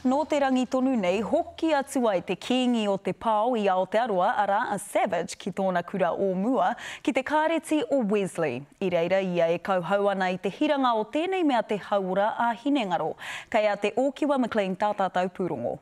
Nō te rangi tonu nei, hoki atu ai te kīngi o te pao i Aotearoa, arā, a Savage, ki tōna kura o mua, ki te Kāreti o Wesley. I reira ia e kauhau ana i te hiranga o tēnei mea te hauora ā-hinengaro. Kei a Te Ōkiwa McLean tā tātou pūrongo.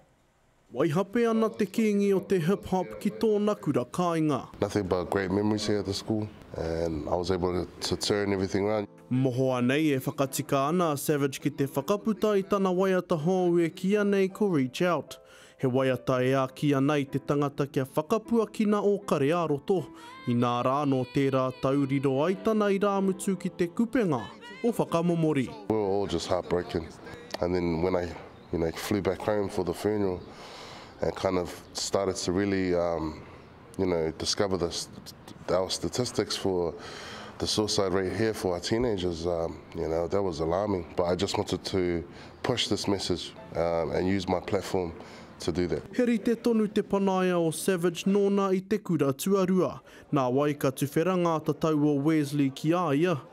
Waihape ana te kīngi o te hip hop ki tōna kura kāinga. Nothing but great memories here at the school and I was able to turn everything around. Mohoa nei e whakatika ana a Savage ki te whakaputa i tana waiata hōu e kīia nei ko Reach Out. He waiata e āki ana i te tangata kia whakapuakina ō kare ā-roto, inā rā nō tērā tau riro ai tana irāmutu ki te kupenga o Whakamomori. We were all just heartbroken and then when I you know flew back home for the funeral and kind of started to really um. you know, discover the, our statistics for the suicide rate here for our teenagers, um, you know, that was alarming. But I just wanted to push this message um, and use my platform to do that. He rite tonu te panaia o Savage nōna i te kura tuarua. Nā wai ka tuwhera ngā tatau o Wesley ki a ia,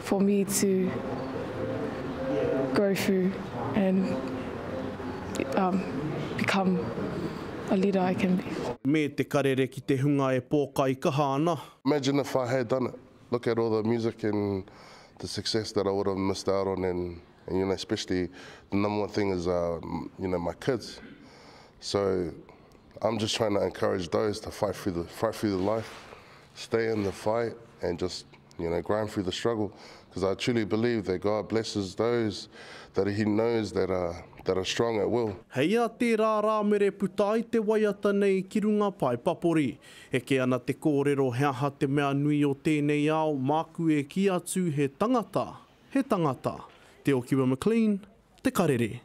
for me to go through and um become a leader I can be. Me te karere ki te hunga e pōkai kaha ana. Imagine if I had done it, look at all the music and the success that I would have missed out on and and you know especially the number one thing is uh you know my kids so I'm just trying to encourage those to fight through the fight through the life stay in the fight and just You know, grind through the struggle, because I truly believe that God blesses those that He knows that are that are strong at will. Hei a tērā rāmere puta ai te waiata nei ki runga pae papori. Eke ana te kōrero he aha te mea nui o tēnei ao māku e kī atu he tangata, he tangata. Te Okiwa McLean, Te Karere.